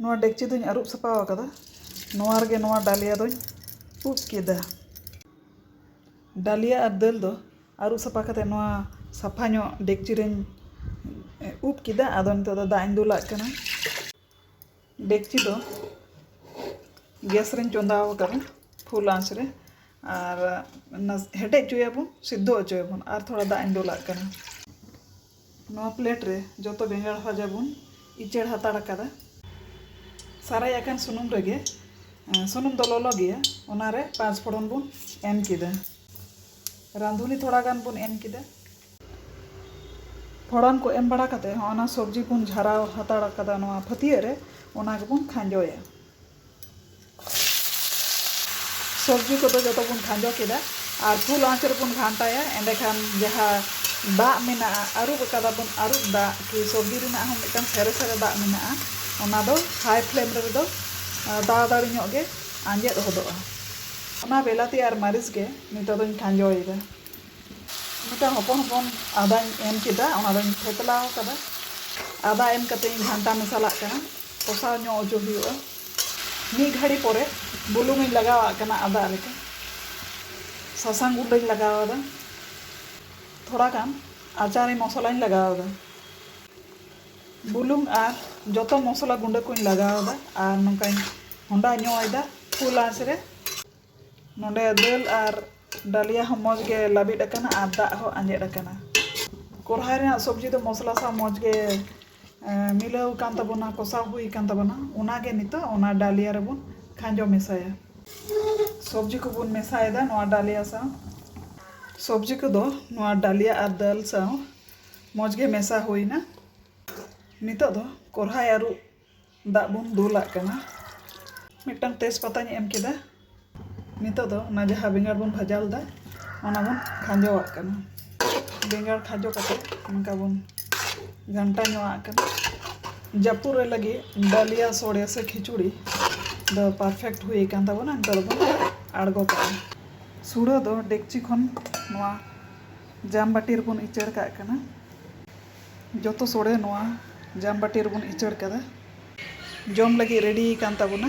ᱱᱚᱣᱟ ᱰᱮᱠᱪᱤ ᱫᱚᱧ ᱟᱹᱨᱩᱵ ᱥᱟᱯᱷᱟ ᱟᱠᱟᱫᱟ ᱱᱚᱣᱟ ᱨᱮᱜᱮ ᱱᱚᱣᱟ ᱰᱟᱞᱤᱭᱟ ᱫᱚᱧ ᱩᱵ ᱠᱮᱫᱟ ᱰᱟᱞᱤᱭᱟ ᱟᱨ ᱫᱟᱹᱞ ᱫᱚ ᱟᱹᱨᱩᱵ ᱥᱟᱯᱷᱟ ᱠᱟᱛᱮᱫ ᱱᱚᱣᱟ ᱥᱟᱯᱷᱟ ᱧᱚᱜ ᱰᱮᱠᱪᱤ ᱨᱮᱧ ᱩᱵ ᱠᱮᱫᱟ ᱟᱫᱚ ᱱᱤᱛᱚᱜ ᱫᱚ ᱫᱟᱜ ᱤᱧ ᱫᱩᱞᱟᱜ ᱠᱟᱱᱟ ᱰᱮᱠᱪᱤ ᱫᱚ ᱜᱮᱥ ᱨᱮᱧ ᱪᱚᱸᱫᱟ ᱟᱠᱟᱫᱟ ᱯᱷᱩᱞ ᱟᱸᱪ ᱨᱮ ᱟᱨ ᱦᱮᱰᱮᱡ ᱦᱚᱪᱚᱭᱟᱵᱚᱱ ᱥᱤᱫᱷᱚ ᱦᱚᱪᱚᱭᱟᱵᱚᱱ ᱟᱨ ᱛᱷᱚᱲᱟ ᱫᱟᱜ ᱤᱧ ᱫᱩᱞᱟᱜ ᱠᱟᱱᱟ ᱱᱚᱣᱟ ᱯᱞᱮᱴ ᱨᱮ ᱡᱚᱛᱚ ᱵᱮᱸᱜᱟᱲ ᱵᱷᱟᱡᱟ ᱵᱚᱱ ᱤᱪᱟᱹᱲ ᱦᱟᱛᱟᱲ ᱟᱠᱟᱫᱟ᱾ ᱥᱟᱨᱟᱭ ᱟᱠᱟᱱ ᱥᱩᱱᱩᱢ ᱨᱮᱜᱮ ᱥᱩᱱᱩᱢ ᱫᱚ ᱞᱚᱞᱚ ᱜᱮᱭᱟ ᱚᱱᱟ ᱨᱮ ᱯᱟᱸᱪ ᱯᱷᱚᱲᱚᱱ ᱵᱚᱱ ᱮᱢ ᱠᱮᱫᱟ᱾ ᱨᱟᱸᱫᱷᱩᱱᱤ ᱛᱷᱚᱲᱟ ᱜᱟᱱ ᱵᱚᱱ ᱮᱢ ᱠᱮᱫᱟ᱾ ᱯᱷᱚᱲᱚᱱ ᱠᱚ ᱮᱢ ᱵᱟᱲᱟ ᱠᱟᱛᱮ ᱦᱚᱸᱜᱼᱚ ᱱᱟ ᱥᱚᱵᱽᱡᱤ ᱵᱚᱱ ᱡᱷᱟᱨᱟᱣ ᱦᱟᱛᱟᱲ ᱟᱠᱟᱫᱟ ᱱᱚᱣᱟ ᱯᱷᱟᱹᱛᱭᱟᱹᱜ ᱨᱮ ᱚᱱᱟ ᱜᱮᱵᱚᱱ ᱠᱷᱟᱸᱡᱚᱭᱟ᱾ ᱥᱚᱵᱽᱡᱤ ᱠᱚᱫᱚ ᱡᱚᱛᱚ ᱵᱚᱱ ᱠᱷᱟᱸᱡᱚ ᱠᱮᱫᱟ ᱟᱨ ᱯᱷᱩᱞ ᱟᱸᱪ ᱨᱮᱵᱚᱱ ᱜᱷᱟᱱᱴᱟᱭᱟ ᱮᱸᱰᱮ ᱠᱷᱟᱱ ᱡᱟᱦᱟᱸ ᱫᱟᱜ ᱢᱮᱱᱟᱜᱼᱟ ᱟᱹᱨᱩᱵ ᱟᱠᱟᱫᱟ ᱵᱚᱱ ᱟᱹᱨᱩᱵ ᱫᱟᱜ ᱠᱤ ᱥᱚᱵᱽᱡᱤ ᱨᱮᱱᱟᱜ ᱦᱚᱸ ᱢᱤᱫᱴᱟᱝ ᱥᱮᱨᱮ ᱥᱮᱨᱮ ᱫᱟᱜ ᱢᱮᱱᱟᱜᱼᱟ ᱚᱱᱟ ᱫᱚ ᱦᱟᱭ ᱯᱷᱞᱮᱢ ᱨᱮᱫᱚ ᱛᱟᱲᱟᱛᱟᱲᱤ ᱧᱚᱜ ᱜᱮ ᱟᱸᱡᱮᱫ ᱦᱚᱫᱚᱜᱼᱟ ᱚᱱᱟ ᱵᱤᱞᱟᱹᱛᱤ ᱟᱨ ᱢᱟᱹᱨᱤᱪ ᱜᱮ ᱱᱤᱛᱚᱜ ᱫᱚᱧ ᱠᱷᱟᱸᱡᱚᱭᱮᱫᱟ ᱢᱤᱫᱴᱟᱝ ᱦᱚᱯᱚᱱ ᱦᱚᱯᱚᱱ ᱟᱫᱟᱧ ᱮᱢ ᱠᱮᱫᱟ ᱚᱱᱟ ᱫᱚᱧ ᱛᱷᱮᱛᱞᱟ ᱟᱠᱟᱫᱟ ᱟᱫᱟ ᱮᱢ ᱠᱟᱛᱮ ᱤᱧ ᱜᱷᱟᱱᱴᱟ ᱢᱮᱥᱟᱞᱟᱜ ᱠᱟᱱᱟ ᱠᱚᱥᱟᱣ ᱧᱚᱜ ᱚᱪᱚ ᱦᱩᱭᱩᱜᱼᱟ ᱢᱤᱫ ᱜᱷᱟᱹᱲᱤ ᱯᱚᱨᱮ ᱵᱩᱞᱩᱝ ᱤᱧ ᱞᱟᱜᱟᱣᱟᱜ ᱠᱟᱱᱟ ᱟᱫᱟ ᱨᱮᱜᱮ ᱥᱟᱥᱟᱝ ᱜᱩᱸᱰᱟᱹᱧ ᱞᱟᱜᱟᱣ ᱟᱫᱟ ᱛᱷᱚᱲᱟ ᱜᱟᱱ ᱟᱪᱟᱨᱤ ᱢᱚᱥᱞᱟᱧ ᱞᱟᱜᱟᱣ ᱟᱫᱟ ᱵᱩᱞᱩᱝ ᱟᱨ ᱡᱚᱛᱚ ᱢᱚᱥᱞᱟ ᱜᱩᱸᱰᱟᱹ ᱠᱚᱧ ᱞᱟᱜᱟᱣ ᱟᱫᱟ ᱟᱨ ᱱᱚᱝᱠᱟᱧ ᱦᱚᱸᱰᱟ ᱧᱚᱜ ᱮᱫᱟ ᱯᱷᱩᱞ ᱟᱸᱪ ᱨᱮ ᱱᱚᱰᱮ ᱫᱟᱹᱞ ᱟᱨ ᱰᱟᱞᱤᱭᱟ ᱦᱚᱸ ᱢᱚᱡᱽ ᱜᱮ ᱞᱟᱹᱵᱤᱫ ᱟᱠᱟᱱᱟ ᱟᱨ ᱫᱟᱜ ᱦᱚᱸ ᱟᱸᱡᱮᱫ ᱟᱠᱟᱱᱟ ᱠᱚᱨᱦᱟᱭ ᱨᱮᱱᱟᱜ ᱥᱚᱵᱽᱡᱤ ᱫᱚ ᱢᱚᱥᱞᱟ ᱥᱟᱶ ᱢᱚᱡᱽ ᱜᱮ ᱢᱤᱞᱟᱹᱣ ᱟᱠᱟᱱ ᱛᱟᱵᱚᱱᱟ ᱠᱚᱥᱟᱣ ᱦᱩᱭ ᱟᱠᱟᱱ ᱛᱟᱵᱚᱱᱟ ᱚᱱᱟ ᱜᱮ ᱱᱤᱛᱚᱜ ᱚᱱᱟ ᱰᱟᱞᱤᱭᱟ ᱨᱮᱵᱚᱱ ᱠᱷᱟᱸᱡᱚ ᱢᱮᱥᱟᱭᱟ ᱥᱚᱵᱽᱡᱤ ᱠᱚᱵᱚᱱ ᱢᱮᱥᱟᱭᱮᱫᱟ ᱱᱚᱣᱟ ᱰᱟᱞᱤᱭᱟ ᱥᱟᱶ ᱥᱚᱵᱽᱡᱤ ᱠᱚᱫᱚ ᱱᱚᱣᱟ ᱰᱟᱞᱤᱭᱟ ᱟᱨ ᱫᱟᱹᱞ ᱥᱟᱶ ᱢᱚᱡᱽ ᱜᱮ ᱢᱮᱥᱟ ᱦᱩᱭ ᱮᱱᱟ ᱱᱤᱛᱚᱜ ᱫᱚ ᱠᱚᱨᱦᱟᱭ ᱟᱹᱨᱩᱵ ᱫᱟᱜ ᱵᱚᱱ ᱫᱩᱞᱟᱜ ᱠᱟᱱᱟ ᱢᱤᱫᱴᱟᱝ ᱛᱮᱡᱽ ᱯᱟᱛᱟᱧ ᱮᱢ ᱠᱮᱫᱟ ᱱᱤᱛᱚᱜ ᱫᱚ ᱚᱱᱟ ᱡᱟᱦᱟᱸ ᱵᱮᱸᱜᱟᱲ ᱵᱚᱱ ᱵᱷᱟᱡᱟ ᱞᱮᱫᱟ ᱚᱱᱟ ᱵᱚᱱ ᱠᱷᱟᱸᱡᱚᱣᱟᱜ ᱠᱟᱱᱟ ᱵᱮᱸᱜᱟᱲ ᱠᱷᱟᱸᱡᱚ ᱠᱟᱛᱮᱫ ᱚᱱᱠᱟ ᱵᱚᱱ ᱜᱷᱟᱱᱴᱟ ᱧᱚᱜᱼᱟᱜ ᱠᱟᱱᱟ ᱡᱟᱹᱯᱩᱫ ᱨᱮ ᱞᱟᱹᱜᱤᱫ ᱫᱟᱹᱞᱤᱭᱟ ᱥᱚᱲᱮ ᱥᱮ ᱠᱷᱤᱪᱩᱲᱤ ᱫᱚ ᱯᱟᱨᱯᱷᱮᱠᱴ ᱦᱩᱭ ᱟᱠᱟᱱ ᱛᱟᱵᱚᱱᱟ ᱱᱤᱛᱚᱜ ᱫᱚᱵᱚᱱ ᱟᱬᱜᱚ ᱠᱟᱜᱼᱟ ᱥᱩᱲᱟᱹ ᱫᱚ ᱰᱮᱠᱪᱤ ᱠᱷᱚᱱ ᱱᱚᱣᱟ ᱡᱟᱢ ᱵᱟᱹᱴᱤ ᱨᱮᱵᱚᱱ ᱤᱪᱟᱹᱲ ᱠᱟᱜ ᱠᱟᱱᱟ ᱡᱚᱛᱚ ᱥᱚᱲᱮ ᱱᱚᱣᱟ ᱡᱟᱢᱵᱟᱴᱤ ᱨᱮᱵᱚᱱ ᱤᱪᱟᱹᱲ ᱠᱟᱫᱟ᱾ ᱡᱚᱢ ᱞᱟᱹᱜᱤᱫ ᱨᱮᱰᱤ ᱟᱠᱟᱱ ᱛᱟᱵᱚᱱᱟ᱾